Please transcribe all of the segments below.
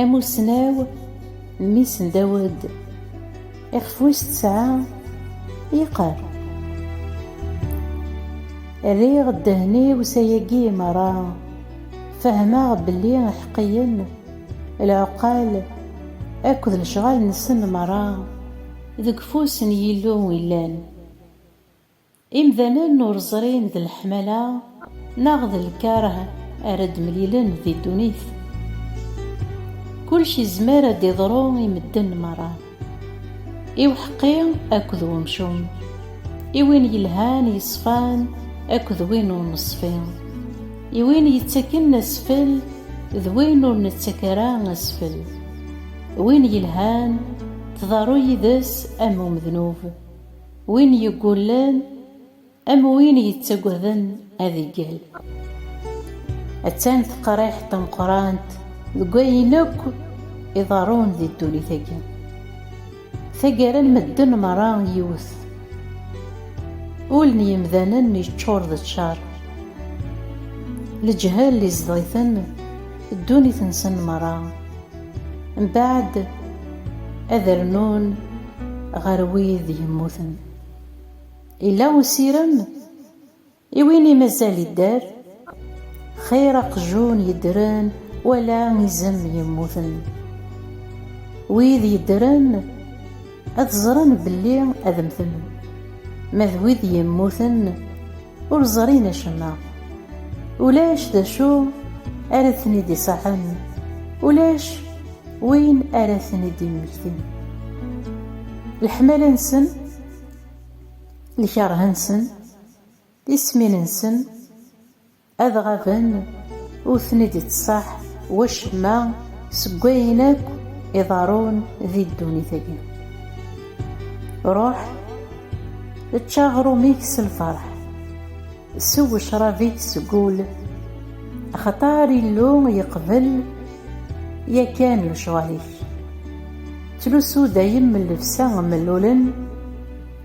Amussnaw mmi-s n Dawed, ixef wis tesɛa yeqqar. Rriɣ ddehn-iw s ayagi meṛṛa, fehmeɣ belli iḥeqqiyen, lɛuqqal akked lecɣal-nsen meṛṛa deg ufus n Yillu i llan. Imdanen ur ẓrin d leḥmala neɣ d lkarh ara d-mlilen di ddunit. Kulec izmer ad d-iḍru i medden merra. I uḥeqqi akked wemcum. I win yelhan yeṣfan akked win ur neṣfi. I win yettaken asfel d win ur nettak ara asfel. Win yelhan tḍerru yid-s am umednub. Win yeggullen am win yettaggaden ad iggel. Attan teqriḥt tameqqrant deg wayen akk iḍerrun di ddunit-agi. Taggara n medden merra yiwet. Ul n yemdanen yeččur d ccer. Leǧhel izdeɣ-iten ddunit-nsen merra. Mbaɛd ad rnun ɣer wid yemmuten. Illa usirem i win i mazal idder, xir aqjun yeddren wala izem yemmuten. Wid yeddren. ad ẓren belli ad mmten ma d wid yemmuten ur ẓrin acemma ulac d acu ara ten-id-iṣaḥen ulac win ara ten-id-immektin leḥmala-nsen lkerh-nsen tismin-nsen Ad ɣaben, ur ten-id-ittṣaḥ wacemma seg wayen akk iḍerrun di ddunit-agi. Ruḥ, ečč aɣrum-ik s lferḥ, sew ccrab-ik seg ul, axaṭer Illu yeqbel yakan lecɣal-ik. Ttlusu dayem llebsa mellulen,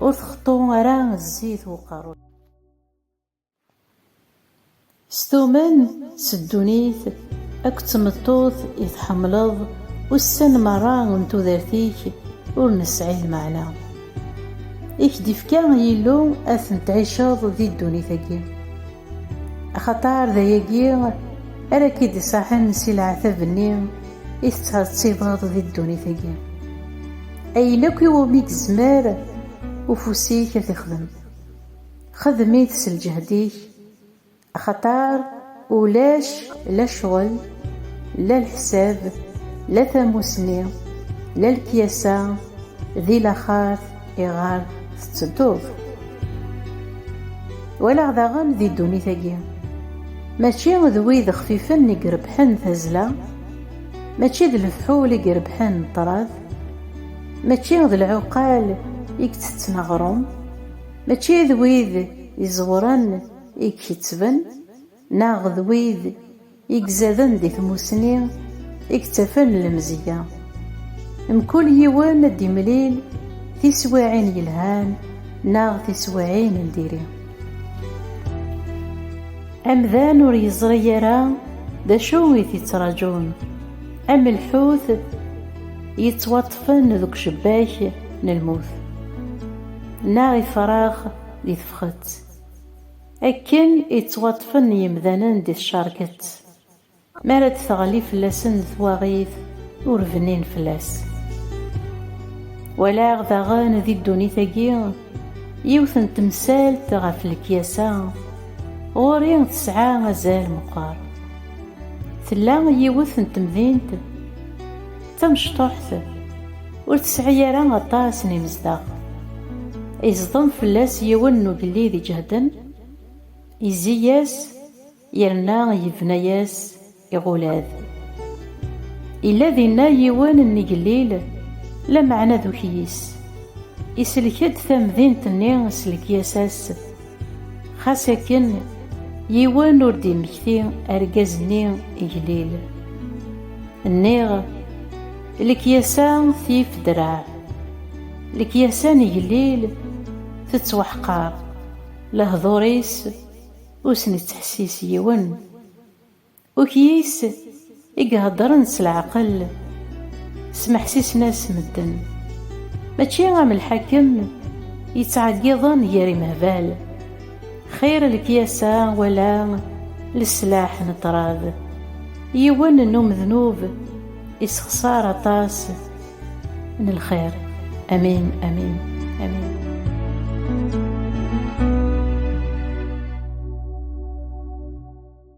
ur texṭu ara zzit n uqerru-k. S tumen, s ddunit, akked tmeṭṭut i tḥemmleḍ, ussan merra n tudert-ik ur nesɛi lmeɛna. I k-d-ifka Yillu ad ten-tɛiceḍ di ddunit-agi. Axaṭer d ayagi ara k-id-isaḥen si leɛtab-nni i tettɛettibeḍ di ddunit-agi. Ayen akk iwumi yezmer ufus-ik ad t-ixdem, Xdem-it s lǧehd-ik, axaṭer ulac la ccɣel, la leḥsab, la tamusni, la lekyasa di laxert iɣer tettedduḍ. Walaɣ daɣen di ddunit-agi, mačči d wid xfifen i irebḥen tazzla, mačči d lefḥul i irebḥen ṭṭrad, mačči d lɛuqal i itetten aɣrum, Mačči d wid iẓewren i ikettben, neɣ d wid i izaden di tmusni i yettafen lemzeyya. Mkul yiwen ad d-imlil tiswiɛin yelhan neɣ tiswiɛin n diri. Amdan ur yeẓri ara d acu i t-ittraǧun, am lḥut yettwaṭṭfen deg ucebbak n lmut. neɣ ifrax di tefxet, akken i ttwaṭṭfen yemdanen di tcerket, mi ara d-teɣli fell-asen twaɣit ur bnin fell-as. Walaɣ daɣen di ddunit-agi yiwet n temsalt ɣef lekyasa, ɣur-i tesɛa azal meqqer. Tella yiwet n temdint d tamecṭuḥt, Ur tesɛi ara aṭas n imezdaɣ. Iẓḍem fell-as yiwen n ugellid iǧehden, izzi-yas yerna yebna-yas iɣulad. Yella dinna yiwen n igellil, lameɛna d ukyis. Isellek-d tamdint-nni s lekyasa-s. Xas akken, yiwen ur d-immekti argaz-nni iglil. Nniɣ, lekyasa tif ddreɛ, lekyasa n igelliel tettwaḥqar, lehdur-is ur s-nettḥessis yiwen. Ukyis i iheddren s leɛqel, smeḥsisen-as medden. Mačči am lḥakem yettɛeggiḍen gar imehbal. Xir lekyasa wala leslaḥ n ṭṭrad. Yiwen n umednub issexṣar aṭas n lxir. Amin, amin, amin.